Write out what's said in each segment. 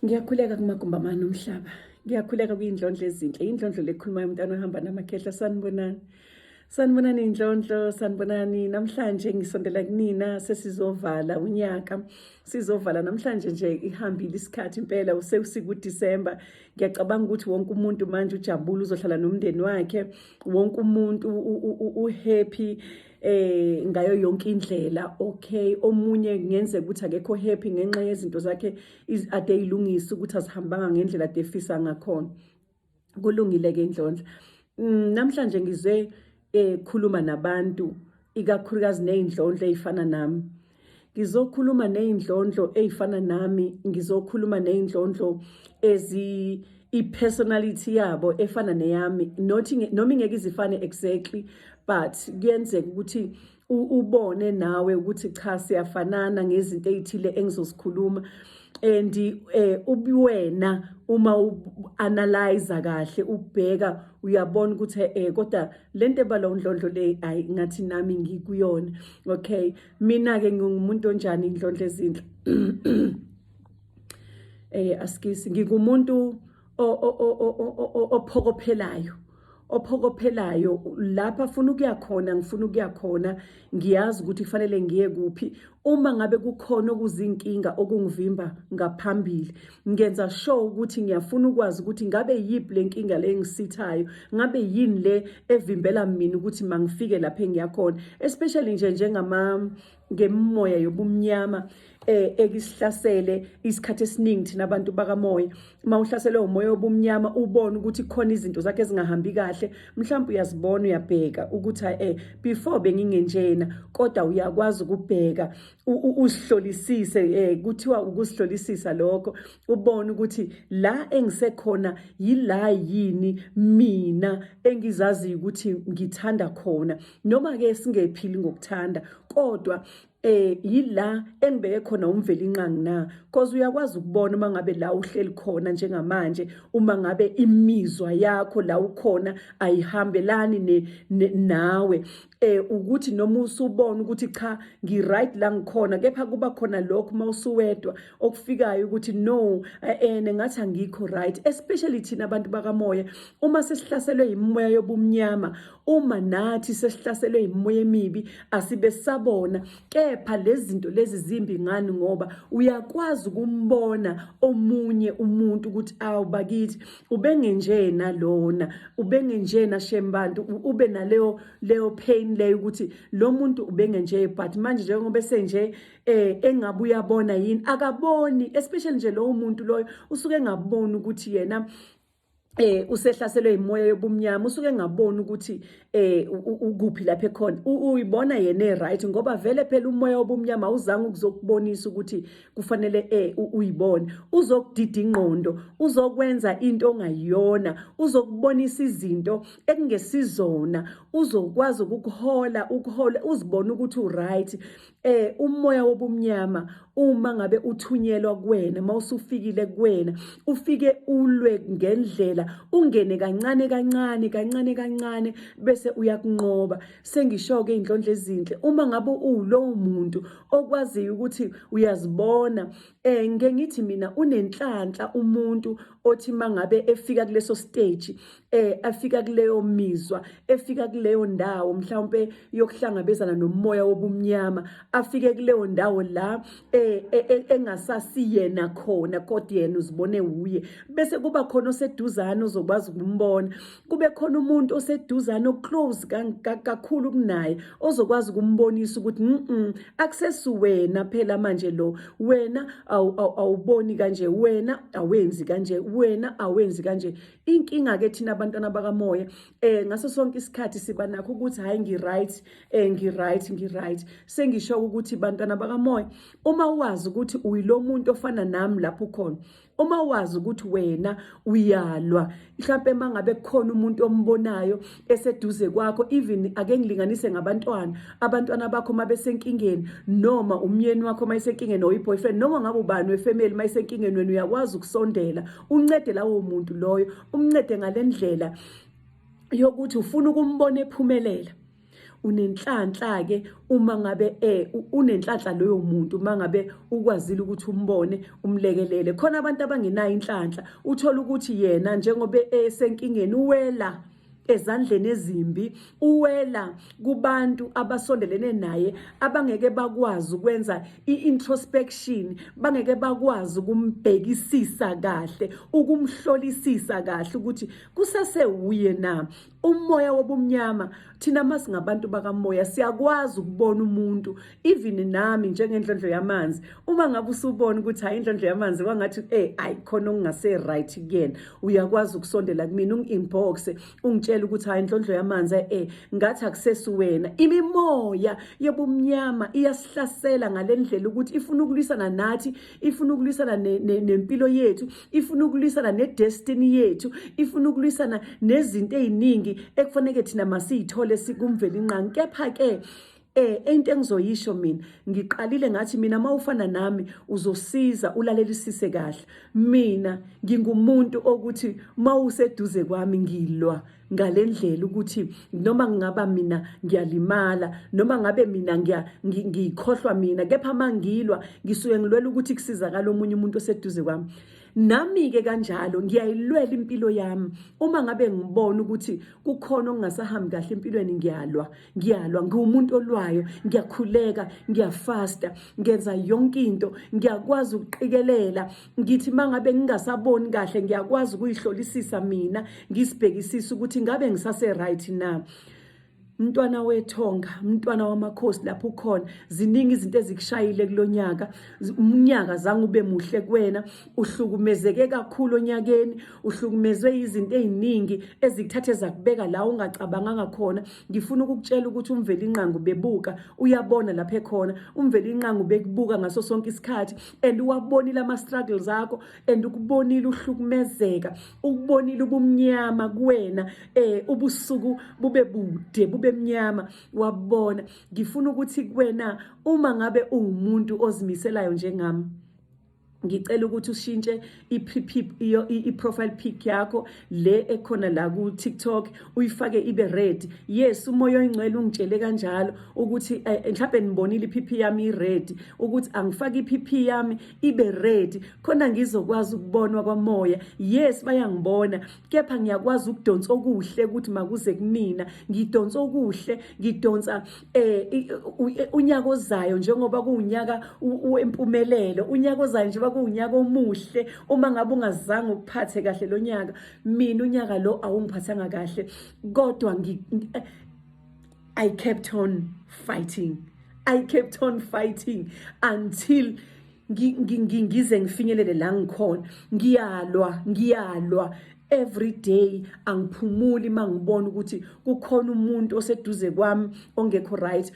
Ngiyakhuleka kumagumbi amane omhlaba. Ngiyakhuleka kuyindlondlo ezinhle. Indlondlo lekhuluma yomntana ohamba namakhehla sanibonani. Sanibonani indlondlo, sanibonani namhlanje ngisondela kunina sesizovala unyaka. Sizovala namhlanje nje ihambile isikhathi impela usekusiku December. Ngiyacabanga ukuthi wonke umuntu manje ujabule uzohlala nomndeni wakhe. Wonke umuntu uhappy eh ngayo yonke indlela okay omunye ngenze ukuthi akekho happy ngenxa yezinto zakhe ade ilungisa ukuthi azihambanga ngendlela defisa ngakhona kulungile ke indlondla mm, namhlanje ngize ekhuluma eh, nabantu ikakhulukazi nezindlondla ezifana nami ngizokhuluma ney'ndlondlo ey'fana nami ngizokhuluma ney'ndlondlo ezi i-personality yabo efana neyami not noma ingeke izifane exactly but kuyenzeka ukuthi ubone nawe ukuthi cha siyafanana ngezinto ezithile engizozikhuluma and eh ubuwena uma uanalyze kahle ubheka uyabona ukuthi eh kodwa le nto ebalwa undlondlo le ayi ngathi nami ngikuyona okay mina-ke ngingumuntu onjani indlondlo ezinhle eh askisi ngikumuntu ophokophelayo ophokophelayo lapha afuna ukuya khona ngifuna ukuya khona Ngiyazi ukuthi kufanele ngiye kuphi uma ngabe kukhona okuzinkinga okungivimba ngaphambili. Ngenza sure ukuthi ngiyafuna ukwazi ukuthi ngabe yiphi le nkinga le engisithayo, ngabe yini le evimbela mina ukuthi mangifike lapho engiyakhona, especially nje njengama ngemimoya yobumnyama eh ekisihlasele isikhathi esiningi thina abantu bakamoya uma uhlaselwe umoya obumnyama ubona ukuthi khona izinto zakhe ezingahambi kahle mhlawumbe uyazibona uyabheka ukuthi eh before bengingenjena kodwa uyakwazi ukubheka usihlolisise eh kuthiwa ukusihlolisisa lokho ubone ukuthi la engisekhona yila yini mina engizazi ukuthi ngithanda khona noma ke singephili ngokuthanda kodwa eh yila engibeke khona umvelinqangi na cause uyakwazi ukubona uma ngabe la uhleli khona njengamanje uma ngabe imizwa yakho la ukhona ayihambelani ne, ne nawe eh ukuthi noma usubona ukuthi cha ngi right la ngikhona kepha kuba khona lokho uma usuwedwa okufikayo ukuthi no eh, eh ngathi angikho right especially thina abantu bakamoya uma sesihlaselwe yimoya yobumnyama uma nathi sesihlaselwe yimoya emibi asibe sabona kepha lezinto lezi zimbi ngani ngoba uyakwazi ukumbona omunye umuntu ukuthi awu bakithi ubengenjena lona ubengenjena shembantu ube naleyo leyo pain leyo ukuthi lo muntu ubengenje but manje njengoba senje eh engabe uyabona yini akaboni especially nje lowo muntu loyo usuke engaboni ukuthi yena eh usehlaselwe imoya yobumnyama usuke engaboni ukuthi eh ukuphi lapha ekhona uyibona yena eright ngoba vele phela umoya wobumnyama uzange ukuzokubonisa ukuthi kufanele eh uyibone uzokudida ingqondo uzokwenza into ongayiyona uzokubonisa izinto ekungesizona uzokwazi ukukuhola ukuhola uzibone ukuthi uright eh umoya wobumnyama uma ngabe uthunyelwa kuwena mawusufikile kuwena ufike ulwe ngendlela ungene kancane kancane kancane kancane bese uyakunqoba sengisho ke indlondle ezinhle uma ngabe uwulowo muntu okwaziyo ukuthi uyazibona eh ngengithi mina unenhlanhla umuntu othi mangabe efika kuleso stage eh afika kuleyo mizwa efika kuleyo ndawo mhlawumbe yokuhlangabezana nomoya wobumnyama afike kuleyo ndawo la eh, eh, eh engasasiyena khona kodwa yena uzibone uye bese kuba khona oseduzane ozokwazi ukumbona kube khona umuntu oseduzane oclose kakhulu kunaye ozokwazi ukumbonisa ukuthi mhm akusesuwena phela manje lo wena awuboni kanje wena awenzi kanje wena awenzi kanje inkinga ke thina abantwana bakamoya eh ngaso sonke isikhathi siba nakho ukuthi hayi ngi right eh ngi right ngi right sengisho ukuthi bantwana bakamoya uma wazi ukuthi uyilomuntu ofana nami lapho khona uma wazi ukuthi wena uyalwa mhlawumbe mangabe kukhona umuntu ombonayo eseduze kwakho even ake ngilinganise ngabantwana abantwana bakho mabesenkingeni noma umyeni wakho mayisenkingeni or iboyfriend noma ngabe ubani wefamily mayisenkingeni wena uyakwazi ukusondela uncede lawo muntu loyo umncede ngalendlela yokuthi ufuna ukumbona ephumelela unenhlanhla ke uma ngabe eh unenhlanhla loyo muntu uma ngabe ukwazile ukuthi umbone umlekelele khona abantu abangenayo inhlanhla uthola ukuthi yena njengoba esenkingeni uwela ezandleni ezimbi uwela kubantu abasondelene naye abangeke bakwazi ukwenza i-introspection bangeke bakwazi ukumbhekisisa kahle ukumhlolisisa kahle ukuthi kusase wuye na umoya wobumnyama thina uma singabantu bakamoya siyakwazi ukubona umuntu even nami njengendlondlo yamanzi uma ngabe usubona ukuthi hayi indlondlo yamanzi kwangathi eh ayi khona okungase right kuyena uyakwazi ukusondela kumina ungi-inbox ungitshela ukuthi hayi indlondlo yamanzi eh ngathi akusesi wena imimoya yobumnyama iyasihlasela ngalendlela ukuthi ifuna ukulwisana nathi ifuna ukulwisana nempilo yethu ifuna ukulwisana nedestiny yethu ifuna ukulwisana nezinto eziningi ekufanele thina masiyithole sikumveli nqangi kepha ke Eh into engizoyisho mina ngiqalile ngathi mina mawufana nami uzosiza ulalelisise kahle mina ngingumuntu okuthi mawuseduze kwami ngilwa ngale ndlela ukuthi noma ngingaba mina ngiyalimala noma ngabe mina ngiyikhohlwa mina kepha uma ngilwa ngisuke ngilwela ukuthi kusizakala omunye umuntu oseduze kwami nami-ke kanjalo ngiyayilwela impilo yami uma ngabe ngibona ukuthi kukhona okungasahambi kahle empilweni ngiyalwa ngiyalwa ngiwumuntu olwayo ngiyakhuleka ngiyafasta ngenza yonke into ngiyakwazi ukuqikelela ngithi mangabe ngingasaboni kahle ngiyakwazi ukuyihlolisisa mina ngisibhekisisa ukuthi ngabe ngisase right na mntwana wethonga mntwana wamakhosi lapho ukhona ziningi izinto ezikushayile kulonyaka unyaka zange ube muhle kuwena uhlukumezeke kakhulu onyakeni uhlukumezwe yizinto eziningi ezikuthathe zakubeka la ungacabanganga khona ngifuna ukukutshela ukuthi umvelinqangu bebuka uyabona lapha ekhona umvelinqangu bekubuka ngaso sonke isikhathi and uwabonile ama struggles akho and ukubonile uhlukumezeka ukubonile ubumnyama kuwena eh ubusuku bube bude bube mnyama wabona ngifuna ukuthi kuwena uma ngabe ungumuntu ozimiselayo njengami ngicela ukuthi ushintshe i-profile pic yakho le ekhona la ku-tiktok uyifake ibe red yes umoya oyingcwele ungitshele kanjalo ukuthi eh, eh, mhlawumbe nibonile i-pp yami i-red ukuthi angifake i-pp yami ibe red khona ngizokwazi ukubonwa kwamoya yes bayangibona kepha ngiyakwazi ukudonsa okuhle ukuthi makuze kumina ngidonsa okuhle ngidonsa eh unyaka ozayo njengoba kuwunyaka wempumelelo unyaka ozayo njengoba kuwunyaka omuhle uma ngabe ungazange ukuphathe kahle lo nyaka mina unyaka lo awungiphathanga kahle kodwa ngi I kept on fighting I kept on fighting until ngize ngifinyelele la ngikhona ngiyalwa ngiyalwa every day angiphumuli mangibona ukuthi kukhona umuntu oseduze kwami ongekho right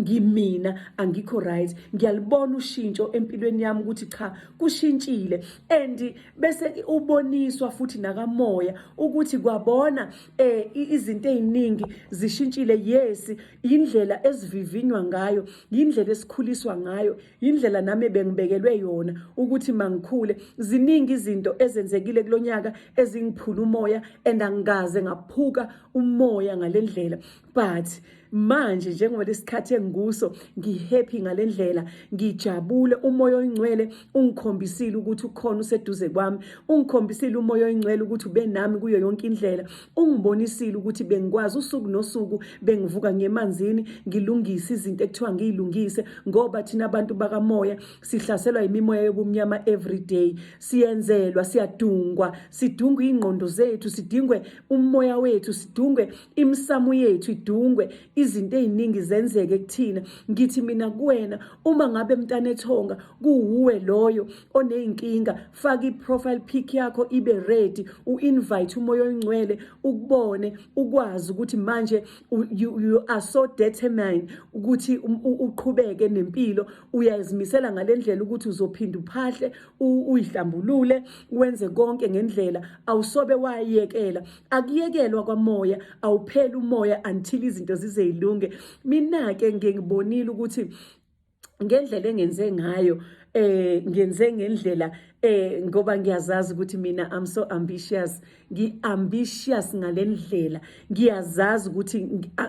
ngimina angikho right ngiyalibona ushintsho empilweni yami ukuthi cha kushintshile and bese uboniswa futhi nakamoya ukuthi kwabona eh izinto eziningi zishintshile yes indlela esivivinywa ngayo indlela esikhuliswa ngayo yindlela nami bengibekelwe yona ukuthi mangikhule ziningi izinto ezenzekile kulonyaka ezingiphula umoya and angikaze ngaphuka umoya ngalendlela but manje njengoba lesikhathi engikuso ngihappy ngalendlela ngijabule umoya oyingcwele ungikhombisile ukuthi ukhona useduze kwami ungikhombisile umoya oyingcwele ukuthi ubenami kuyo yonke indlela ungibonisile ukuthi bengikwazi usuku nosuku bengivuka ngemanzini ngilungise izinto ekuthiwa ngiyilungise ngoba thina abantu bakamoya sihlaselwa imimoya yobumnyama every day siyenzelwa siyadungwa sidungwe ingqondo zethu sidingwe umoya wethu sidungwe imisamu yethu idungwe izinto eziningi zenzeke kuthina ngithi mina kuwena uma ngabe mntanethonga kuwuwe loyo oneyinkinga faka i-profile pic yakho ibe ready u-invite umoya oyingcwele ukubone ukwazi ukuthi manje you, you are so determined ukuthi um, uqhubeke nempilo uyazimisela ngale ndlela ukuthi uzophinda uphahle uyihlambulule wenze konke ngendlela awusobe wayekela akuyekelwa kwamoya awupheli umoya until izinto zizeyilunge mina-ke ngengibonile ukuthi ngendlela engenze ngayo eh ngenze ngendlela eh ngoba ngiyazazi ukuthi mina I'm so ambitious ngi ambitious ngalendlela ngiyazazi ukuthi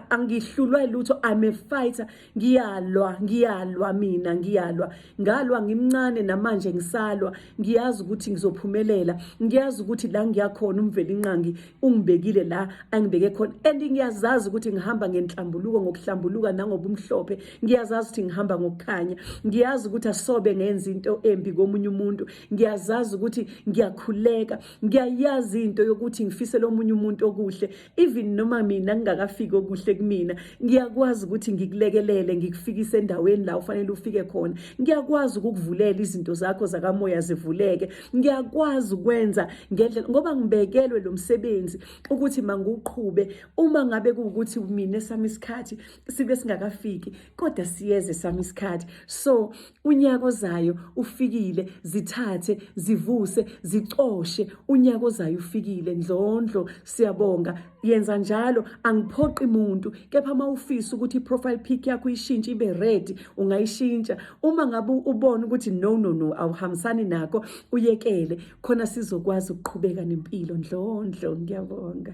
angihlulwa lutho I'm a fighter ngiyalwa ngiyalwa mina ngiyalwa ngalwa ngimncane namanje ngisalwa ngiyazi ukuthi ngizophumelela ngiyazi ukuthi la ngiyakhona umvelinqangi ungibekile la angibeke khona and ngiyazazi ukuthi ngihamba ngenhlambuluko ngokuhlambuluka nangobumhlophe ngiyazazi ukuthi ngihamba ngokukhanya ngiyazi ukuthi asobe ngenza into embi komunye umuntu ngiyazazi ukuthi ngiyakhuleka ngiyayazi into yokuthi ngifisele omunye umuntu okuhle even noma mina ngingakafiki okuhle kumina ngiyakwazi ukuthi ngikulekelele ngikufikise endaweni la ufanele ufike khona ngiyakwazi ukukuvulela izinto zakho zakamoya zivuleke ngiyakwazi ukwenza ngendlela ngoba ngibekelwe lo msebenzi ukuthi mangiwuqhube uma ngabe kuwukuthi mina sami isikhathi sibe singakafiki kodwa siyeze sami isikhathi so unyaka ozayo ufikile zithathe zivuse zicoshe unyaka ozayo ufikile ndlondlo siyabonga yenza njalo angiphoqi muntu kepha uma ufisa ukuthi i-profile pic yakho ishintshe ibe red ungayishintsha uma ngabe ubona ukuthi no no no awuhambisani nakho uyekele khona sizokwazi ukuqhubeka nempilo ndlondlo ngiyabonga